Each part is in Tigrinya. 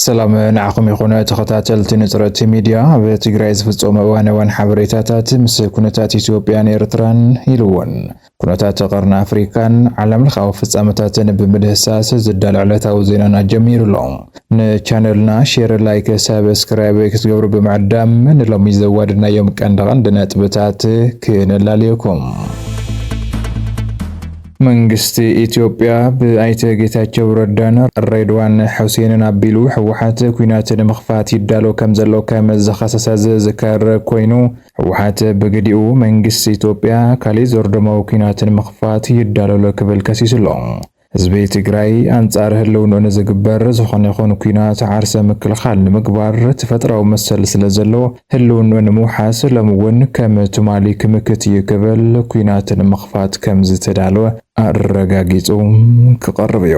ሰላም ንዓኹም ይኹን ተኸታተልቲ ንፅረቲ ሚድያ ኣብ ትግራይ ዝፍፀሙ እዋን እዋን ሓበሬታታት ምስ ኩነታት ኢትዮጵያን ኤርትራን ኢሉ እውን ኩነታት ቀርኒ ኣፍሪቃን ዓለምለኻዊ ፍጻመታትን ብምድህሳስ ዝዳሎ ዕለታዊ ዜናና ጀሚሩ ኣሎ። ንቻነልና ሼር፣ ላይክ፣ ሳብስክራይብ ክትገብሩ ብምዕዳም ንሎሚ ዘዋደድናዮም ቀንዲ ቀንዲ ነጥብታት ክነላልየኩም። መንግስቲ ኢትዮጵያ ብኣይተ ጌታቸው ረዳን ሬድዋን ሑሴንን ኣቢሉ ህወሓት ኩናት ንምኽፋት ይዳሎ ከም ዘሎ ከም ዝኸሰሰ ዝዝከር ኮይኑ ህወሓት ብግዲኡ መንግስቲ ኢትዮጵያ ካሊእ ዘርዶማዊ ኲናት ንምኽፋት ይዳሎ ኣሎ ክብል ከሲሱ ኣሎ። ህዝቢ ትግራይ ኣንፃር ህልውንኡ ንዝግበር ዝኾነ ይኹን ኲናት ዓርሰ ምክልኻል ንምግባር ተፈጥራዊ መሰል ስለዘለዎ ህልውንኡ ንምውሓስ ሎሚ እውን ከም ትማሊ ክምክት እዩ ክብል ኲናት ንምኽፋት ከምዝተዳለወ ኣረጋጊፁ ክቐርብ እዩ።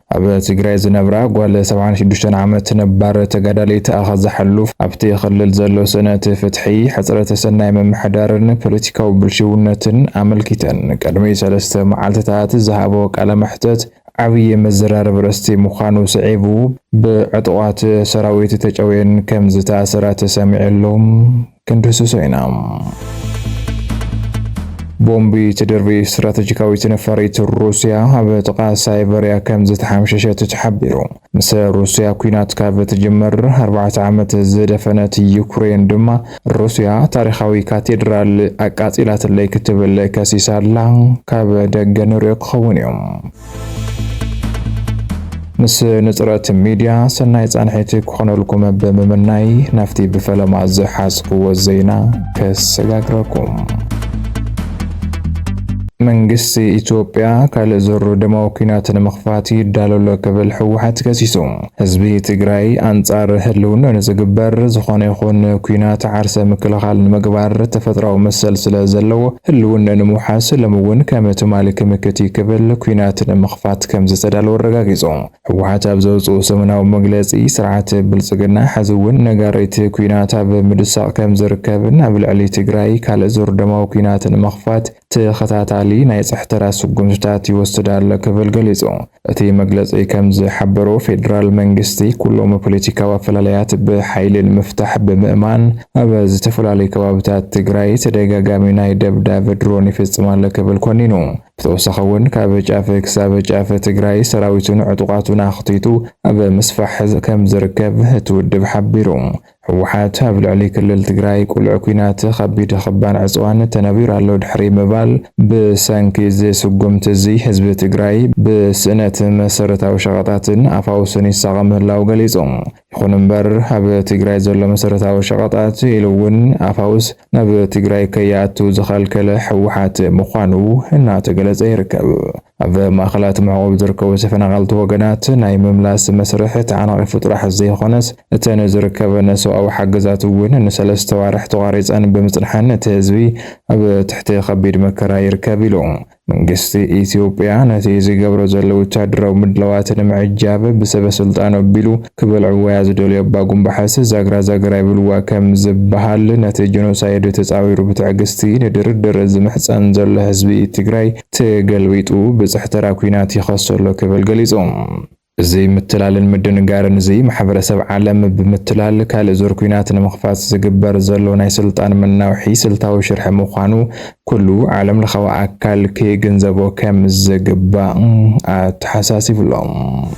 ኣብ ትግራይ ዝነብራ ጓል ሰብዓን ሽዱሽተን ዓመት ነባር ተጋዳሊት ኣኸዛ ሕሉፍ ኣብቲ ክልል ዘሎ ስእነት ፍትሒ፣ ሕፅረት ሰናይ ምምሕዳርን ፖለቲካዊ ብልሽውነትን ኣመልኪተን ቅድሚ ሰለስተ መዓልቲታት ዝሃበኦ ቃለ መሕተት ዓብዪ መዘራረቢ ርእስቲ ምዃኑ ስዒቡ ብዕጡቓት ሰራዊት ተጨውየን ከምዝተኣሰራ ተሰሚዑ ኣሎ። ክንድህስሶ ኢና። ቦምቢ ትድርቢ ስትራተጂካዊት ነፋሪት ሩስያ ኣብ ጥቓ ሳይበርያ ከም ዝተሓምሸሸት ተሓቢሩ። ምስ ሩስያ ኩናት ካብ ትጅመር ኣርባዕተ ዓመት ዝደፈነት ዩክሬን ድማ ሩስያ ታሪኻዊ ካቴድራል ኣቃጺላትለይ ክትብል ከሲሳ ኣላ። ካብ ደገ ንሪኦ ክኸውን እዩ። ምስ ንጽረት ሚድያ ሰናይ ጻንሒት ክኾነልኩም ብምምናይ ናብቲ ብፈለማ ዝሓዝክዎ ዜና ከሰጋግረኩም መንግስቲ ኢትዮጵያ ካልእ ዙር ደማዊ ኲናት ንምኽፋት ይዳሎ ኣሎ ክብል ህወሓት ከሲሱ። ህዝቢ ትግራይ ኣንፃር ህልውንኡ ንዝግበር ዝኾነ ይኹን ኩናት ዓርሰ ምክልኻል ንምግባር ተፈጥራዊ መሰል ስለ ዘለዎ ህልውንኡ ንምውሓስ ሎሚ እውን ከም ትማሊ ክምክት እዩ ክብል ኩናት ንምኽፋት ከም ዝተዳለወ ኣረጋጊፁ። ህወሓት ኣብ ዘውፅኡ ሰሙናዊ መግለፂ ስርዓት ብልፅግና ሐዚ እውን ነጋሪት ኩናት ኣብ ምድሳቕ ከም ዝርከብን ኣብ ልዕሊ ትግራይ ካልእ ዙር ደማዊ ኩናት ንምኽፋት ተኸታታሊ ናይ ጽሕተራ ስጉምትታት ይወስድ ኣሎ ክብል ገሊጹ። እቲ መግለጺ ከም ዝሓበሮ፣ ፌደራል መንግስቲ ኩሎም ፖለቲካዊ ኣፈላላያት ብሓይሊ ንምፍታሕ ብምእማን ኣብ ዝተፈላለዩ ከባብታት ትግራይ ተደጋጋሚ ናይ ደብዳብ ድሮን ይፍጽም ኣሎ ክብል ኮኒኑ። ብተወሳኺ እውን ካብ ጫፍ ክሳብ ጫፍ ትግራይ ሰራዊቱን ዕጡቓቱን ኣኽቲቱ ኣብ ምስፋሕ ከም ዝርከብ እቲ ውድብ ሓቢሩ። ህወሓት ኣብ ልዕሊ ክልል ትግራይ ቁልዕ ኲናት ኸቢድ ኽባን ዕፅዋን ተነቢሩ ኣሎ ድሕሪ ምባል ብሰንኪ እዚ ስጉምቲ እዚ ህዝቢ ትግራይ ብስእነት መሰረታዊ ሸቐጣትን ኣፋውስን ይሳቐ ምህላው ገሊፁ። ይኹን እምበር ኣብ ትግራይ ዘሎ መሰረታዊ ሸቐጣት ኢሉ እውን ኣፋውስ ናብ ትግራይ ከይኣቱ ዝኸልከለ ህወሓት ምዃኑ እናተገለፀ ይርከብ። ኣብ ማእኸላት መዕቖቢ ዝርከቡ ተፈናቐልቲ ወገናት ናይ ምምላስ መስርሕ ተዓናቒፉ ጥራሕ ዘይኾነስ እተን ዝርከበን ሰብኣዊ ሓገዛት እውን ንሰለስተ ኣዋርሕ ተቋሪፀን ብምፅንሐን እቲ ህዝቢ ኣብ ትሕቲ ከቢድ መከራ ይርከብ ኢሉ። መንግስቲ ኢትዮጵያ ነቲ ዝገብሮ ዘሎ ወታደራዊ ምድላዋት ንምዕጃብ ብሰበ ስልጣኑ ኣቢሉ ክበልዕዎያ ዝደልዩ ኣባጉምባሕስ ዛግራ ዛገራ ይብልዋ ከም ዝበሃል ነቲ ጀኖሳይድ ተፃዊሩ ብትዕግስቲ ንድርድር ዝምሕፀን ዘሎ ህዝቢ ትግራይ ተገልቢጡ ብጽሕ ተራ ኲናት ይኸሶ ኣሎ ክብል ገሊጹ። እዚ ምትላልን ምድንጋርን እዚ፣ ማሕበረሰብ ዓለም ብምትላል ካልእ ዙር ኲናት ንምኽፋት ዝግበር ዘሎ ናይ ስልጣን መናውሒ ስልታዊ ሽርሒ ምዃኑ ኩሉ ዓለም ለኻዊ ኣካል ክግንዘቦ ከም ዝግባእ ኣተሓሳሲቡ'ሎ።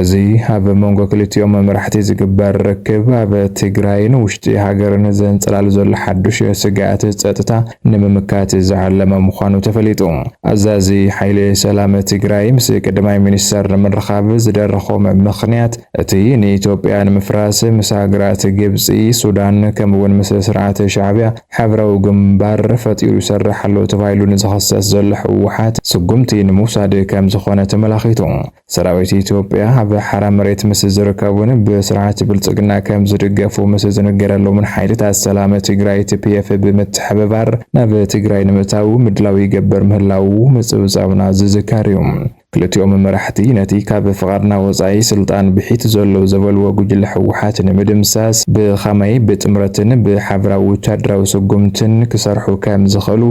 እዚ ኣብ መንጎ ክልቲኦም መራሕቲ ዝግበር ርክብ ኣብ ትግራይን ውሽጢ ሃገርን ዘንጸላሉ ዘሎ ሓዱሽ ስግኣት ጸጥታ ንምምካት ዝዓለመ ምዃኑ ተፈሊጡ። ኣዛዚ ሓይሊ ሰላም ትግራይ ምስ ቀዳማይ ሚኒስተር ንምርኻብ ዝደረኾም ምኽንያት እቲ ንኢትዮጵያ ንምፍራስ ምስ ሃገራት ግብጺ፣ ሱዳን ከምኡ'ውን ምስ ስርዓት ሻዕብያ ሓብራዊ ግንባር ፈጢሩ ይሰርሕ ኣሎ ተባሂሉ ንዝኽሰስ ዘሎ ህወሓት ስጉምቲ ንምውሳድ ከምዝኾነ ተመላኺቱ። ሰራዊት ኢትዮጵያ ኣብ ሓራ መሬት ምስ ዝርከቡን ብስርዓት ብልፅግና ከም ዝድገፉ ምስ ዝንገረሎምን ሓይልታት ሰላም ትግራይ፣ ትፒኤፍ፣ ብምትሕብባር ናብ ትግራይ ንምእታዉ ምድላው ይገብር ምህላዉ ምፅብፃብና ዝዝከር እዩ። ክልቲኦም መራሕቲ ነቲ ካብ ፍቓድና ወፃኢ ስልጣን ብሒቱ ዘሎ ዘበልዎ ጉጅለ ህወሓት ንምድምሳስ ብኸመይ ብጥምረትን ብሓበራዊ ወታደራዊ ስጉምትን ክሰርሑ ከም ዝኽእሉ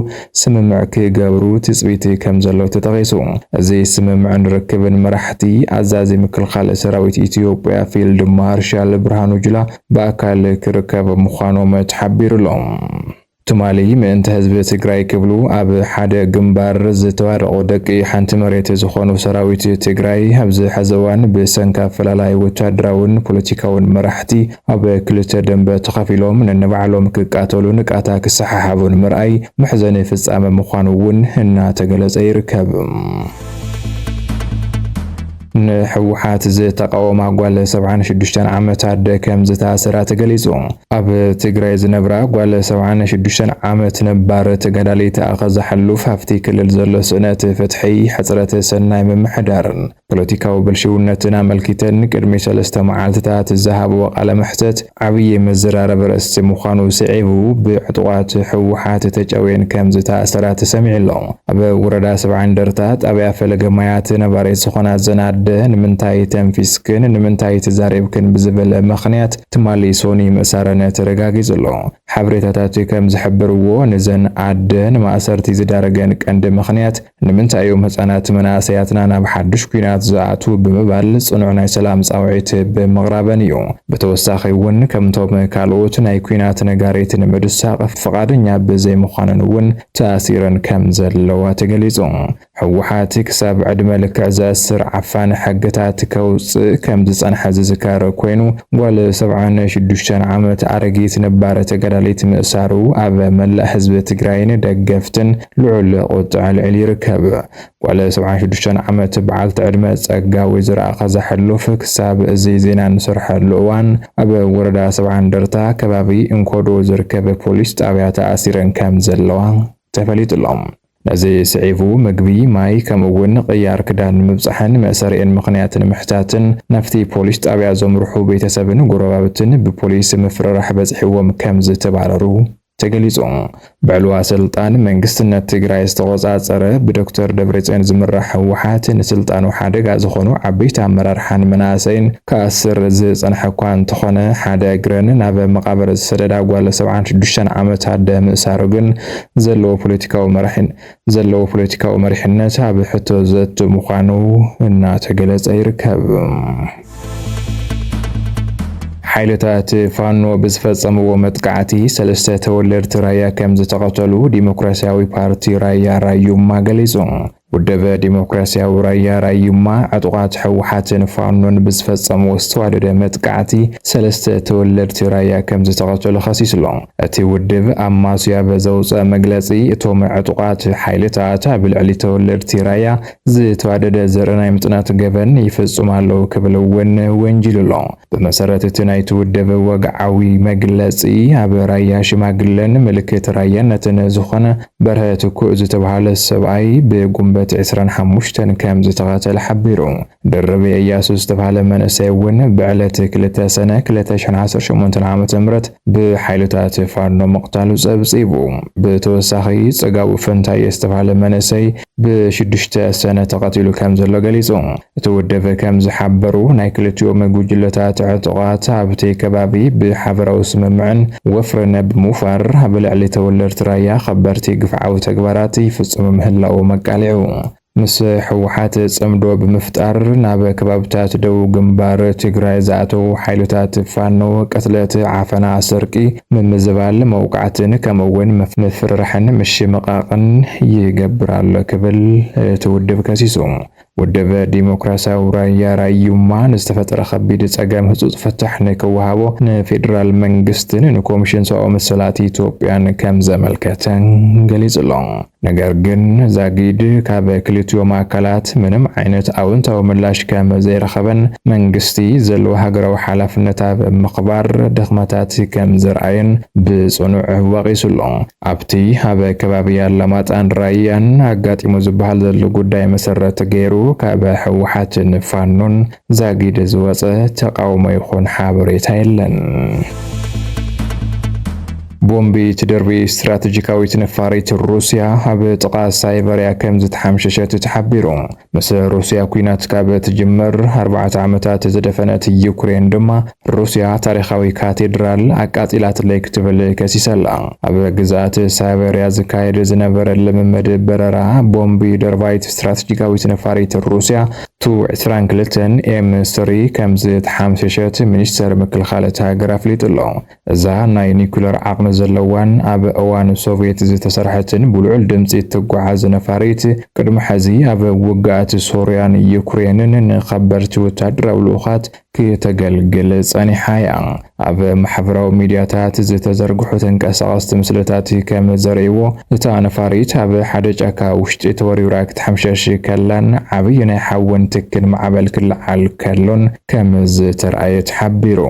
ስምምዕ ክገብሩ ትጽቢት ከምዘሎ ተጠቒሱ። እዚ ስምምዕን ርክብን መራሕቲ ኣዛዚ ምክልኻል ሰራዊት ኢትዮጵያ ፊልድ ማርሻል ብርሃኑ ጁላ ብኣካል ክርከብ ምዃኖም ተሓቢሩ'ሎ። ትማሊ ምእንቲ ህዝቢ ትግራይ ክብሉ ኣብ ሓደ ግንባር ዝተዋደቑ ደቂ ሓንቲ መሬት ዝኾኑ ሰራዊት ትግራይ ኣብዚ ሐዚ እዋን ብሰንኪ ኣፈላላይ ወታደራውን ፖለቲካውን መራሕቲ ኣብ ክልተ ደምበ ተኸፊሎም ነንባዕሎም ክቃተሉን ቃታ ክሰሓሓቡን ምርኣይ መሕዘኒ ፍጻመ ምዃኑ እውን እናተገለጸ ይርከብ። ንሕወሓት ዝተቃወማ ጓል 76 ዓመት ኣደ ከም ዝታሰራ ተገሊጹ። ኣብ ትግራይ ዝነብራ ጓል 76 ዓመት ነባር ተጋዳሊት ኣኸዛ ሕሉፍ ኣብቲ ክልል ዘሎ ስእነት ፍትሒ፣ ሕጽረት ሰናይ ምምሕዳርን ፖለቲካዊ ብልሽውነትን ኣመልኪተን ቅድሚ ሰለስተ መዓልቲታት ዝሃብኦ ቃለ መሕተት ዓብዪ መዘራረቢ ኣርእስቲ ምዃኑ ስዒቡ ብዕጡቓት ህወሓት ተጨውየን ከም ዝተኣሰራ ተሰሚዑ ኣሎ። ኣብ ወረዳ ሰብዓ እንደርታ ጣብያ ፈለገ ማያት ነባሪት ዝኾና እዘን ኣደ ንምንታይ ተንፊስክን ንምንታይ ተዛሪብክን ብዝብል ምኽንያት ትማሊ ሶኒ ምእሳረን ተረጋጊፁ ኣሎ። ሓበሬታታት ከም ዝሕብርዎ ንዘን ኣደ ንማእሰርቲ ዝዳረገን ቀንዲ ምኽንያት ንምንታይ እዮም ህጻናት መናእሰያትና ናብ ሓዱሽ ኲናት ዝኣትዉ ብምባል ጽኑዕ ናይ ሰላም ጻውዒት ብምቕራበን እዩ። ብተወሳኺ እውን ከምቶም ካልኦት ናይ ኲናት ነጋሪት ንምድሳቕ ፍቓደኛ ብዘይምዃነን እውን ተኣሲረን ከም ዘለዋ ተገሊጹ። ህወሓት ክሳብ ዕድመ ልክዕ ዘእስር ዓፋኒ ሕግታት ከውጽእ ከም ዝጸንሐ ዝዝከር ኮይኑ፣ ጓል ሰብዓን ሽዱሽተን ዓመት ኣረጊት ነባር ተጋዳሊት ምእሳሩ ኣብ መላእ ህዝቢ ትግራይን ደገፍትን ልዑል ቁጥዐ ልዕል ይርከብ። ጓል ሰብዓን ሽዱሽተን ዓመት በዓልቲ ዕድመ ጸጋ ወይዘሮ ኣኸዛ ሕሉፍ ክሳብ እዚ ዜና እንሰርሐሉ እዋን ኣብ ወረዳ ሰብዓ እንደርታ ከባቢ እንኮዶ ዝርከብ ፖሊስ ጣብያ ተኣሲረን ከም ዘለዋ ተፈሊጡ'ሎ። ነዚ ስዒቡ ምግቢ፣ ማይ ከምኡ እውን ቅያር ክዳን ንምብጻሕን መእሰሪኤን ምኽንያት ንምሕታትን ናብቲ ፖሊስ ጣብያ ዘምርሑ ቤተሰብን ጎረባብትን ብፖሊስ ምፍርራሕ በጺሕዎም ከም ዝተባረሩ ተገሊፁ። ብዕልዋ ስልጣን መንግስትነት ትግራይ ዝተቖፃፀረ ብዶክተር ደብረፅዮን ዝምራሕ ህወሓት ንስልጣኑ ሓደጋ ዝኾኑ ዓበይቲ ኣመራርሓን መናእሰይን ክኣስር ዝፀንሐ እኳ እንተኾነ ሓደ እግረን ናብ መቓብር ዝሰደዳ ጓል ሰብዓን ሽዱሽተን ዓመት ኣደ ምእሳሩ ግን ዘለዎ ፖለቲካዊ መራሒን ዘለዎ ፖለቲካዊ መሪሕነት ኣብ ሕቶ ዘእቱ ምዃኑ እናተገለፀ ይርከብ። ሓይልታት ፋኖ ብዝፈፀምዎ መጥቃዕቲ ሰለስተ ተወለድቲ ራያ ከም ዝተቐተሉ ዲሞክራሲያዊ ፓርቲ ራያ ራዩማ ገሊፁ። ውደበ ዲሞክራሲያዊ ራያ ራዩማ ዕጡቓት ህወሓትን ፋኖን ብዝፈፀምዎ ዝተዋደደ መጥቃዕቲ ሰለስተ ተወለድቲ ራያ ከም ዝተቐተሉ ከሲሱ'ሎ። እቲ ውድብ ኣማስያ በዘውፀ መግለፂ እቶም ዕጡቓት ሓይልታት ኣብ ልዕሊ ተወለድቲ ራያ ዝተዋደደ ዘርኢ ናይ ምፅናት ገበን ይፍፅሙ ኣለው ክብል እውን ወንጂሉ ኣሎ። ብመሰረት እቲ ናይቲ ውድብ ወግዓዊ መግለፂ ኣብ ራያ ሽማግለን ምልክት ራያነትን ዝኾነ በርሀ ትኩእ ዝተብሃለ ሰብኣይ ብጉንበት ዕስራን ሓሙሽተን ከምዝተቐተለ ሓቢሩ። ድርብ እያሱ ዝተባህለ መንእሰይ እውን ብዕለት ክልተ ሰነ ክልተ ሽሕን ዓሰርተ ሸሞንተን ዓመተ ምህረት ብሓይልታት ፋኖ ምቕታሉ ጸብጺቡ። ብተወሳኺ ጽጋቡ ፈንታየ ዝተባህለ መንእሰይ ብሽዱሽተ ሰነ ተቐቲሉ ከም ዘሎ ገሊጹ። እቲ ውድብ ከም ዝሓበሩ ናይ ክልቲኦም ጉጅለታት ዕጡቓት ኣብቲ ከባቢ ብሓበራዊ ስምምዕን ወፍርን ብምውፋር ኣብ ልዕሊ ተወለድቲ ራያ ከበድቲ ግፍዓዊ ተግባራት ይፍጽሙ ምህላዎም ኣቃሊዑ። ምስ ህወሓት ፅምዶ ብምፍጣር ናብ ከባብታት ደቡብ ግንባር ትግራይ ዝኣተዉ ሓይልታት ፋኖ ቅትለት፣ ዓፈና፣ ስርቂ፣ ምምዝባል፣ መውቃዕትን ከምኡ እውን ምፍርራሕን ምሽምቓቕን ይገብር ኣሎ ክብል እቲ ውድብ ከሲሱ። ውድብ ዲሞክራሲያዊ ራያ ራዩማ ንዝተፈጠረ ከቢድ ፀገም ህፁፅ ፍታሕ ንክወሃቦ ንፌዴራል መንግስትን ንኮሚሽን ሰብኣዊ መሰላት ኢትዮጵያን ከምዘመልከተ ገሊፁ'ሎ። ነገር ግን ዛጊድ ካብ ክልቲኦም ኣካላት ምንም ዓይነት ኣውንታዊ ምላሽ ከም ዘይረኸበን መንግስቲ ዘለዎ ሃገራዊ ሓላፍነት ኣብ ምኽባር ድኽመታት ከም ዘርኣየን ብጽኑዕ ወቒሱ ኣሎ። ኣብቲ ኣብ ከባቢ ኣላማጣን ራያን ኣጋጢሙ ዝበሃል ዘሎ ጉዳይ መሰረት ገይሩ ካብ ህወሓትን ፋኖን ዛጊድ ዝወጸ ተቓውሞ ይኹን ሓበሬታ የለን። ቦምቢ ትድርቢ ስትራተጂካዊት ነፋሪት ሩስያ ኣብ ጥቓ ሳይበርያ ከም ዝተሓምሸሸት ተሓቢሩ። ምስ ሩስያ ኩናት ካብ ትጅምር ኣርባዕተ ዓመታት ዝደፈነት ዩክሬን ድማ ሩስያ ታሪኻዊ ካቴድራል ኣቃጺላትለይ ክትብል ከሲሰላ። ኣብ ግዝኣት ሳይበርያ ዝካየድ ዝነበረ ልምምድ በረራ ቦምቢ ደርባይት ስትራተጂካዊት ነፋሪት ሩስያ ቱ ዕስራን ክልተን ኤም ስሪ ከምዝተሓምሸሸት ሚኒስተር ምክልኻል እታ ሃገር ኣፍሊጡ ኣሎ። እዛ ናይ ኒኩለር ዓቕሚ ዘለዋን ኣብ እዋን ሶቭየት ዝተሰርሐትን ብልዑል ድምጺ እትጓዓዝ ነፋሪት፣ ቅድሚ ሕዚ ኣብ ውግኣት ሶርያን ዩክሬንን ንኸበድቲ ወተሃደራዊ ልኡኻት ክተገልግል ጸኒሓ እያ። ኣብ ማሕበራዊ ሚድያታት ዝተዘርግሑ ተንቀሳቐስቲ ምስልታት ከም ዘርእይዎ፣ እታ ነፋሪት ኣብ ሓደ ጫካ ውሽጢ ተወርዊራ ክትሓምሸሽ ከላን ዓብዪ ናይ ሓዊን ትኪን ማዕበል ክለዓል ከሎን ከም ዝተርኣየ ተሓቢሩ።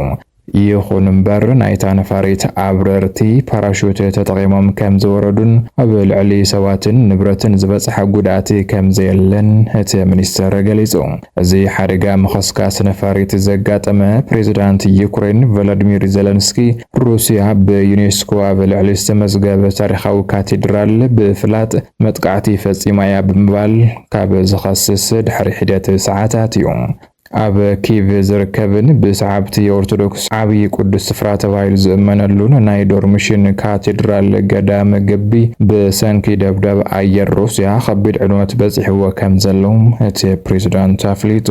ይኹን እምበር ናይታ ነፋሪት ኣብረርቲ ፓራሹት ተጠቒሞም ከም ዝወረዱን ኣብ ልዕሊ ሰባትን ንብረትን ዝበጽሐ ጉድኣት ከም ዘየለን እቲ ሚኒስቴር ገሊጹ። እዚ ሓደጋ ምኽስካስ ነፋሪት ዘጋጠመ፣ ፕሬዝዳንት ዩክሬን ቮሎድሚር ዘለንስኪ፣ ሩስያ ብዩኔስኮ ኣብ ልዕሊ ዝተመዝገበ ታሪኻዊ ካቴድራል ብፍላጥ መጥቃዕቲ ፈጺማ እያ ብምባል ካብ ዝኸስስ ድሕሪ ሒደት ሰዓታት እዩ። ኣብ ኪቭ ዝርከብን ብሰዓብቲ ኦርቶዶክስ ዓብዪ ቅዱስ ስፍራ ተባሂሉ ዝእመነሉን ናይ ዶርምሽን ካቴድራል ገዳም ግቢ ብሰንኪ ደብዳብ ኣየር ሩስያ ከቢድ ዕንወት በፂሕዎ ከምዘሎ እቲ ፕሬዝዳንት ኣፍሊጡ።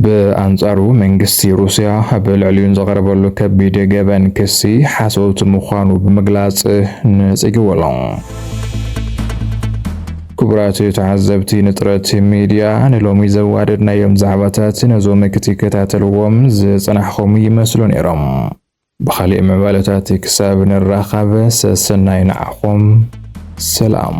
ብኣንፃሩ መንግስቲ ሩስያ ኣብ ልዕሊኡ ንዘቐረበሉ ከቢድ ገበን ክሲ ሓሶት ምዃኑ ብምግላፅ ነፂግዎ ኣሎ። ክቡራት ተዓዘብቲ ንጥረት ሚድያ ንሎሚ ዘዋደድናዮም ዛዕባታት ነዞም ክትከታተልዎም ዝጸናሕኹም ይመስሉ ነይሮም። ብኻሊእ ምዕባለታት ክሳብ ንራኻብ ሰሰናዩ ንዓኹም ሰላም።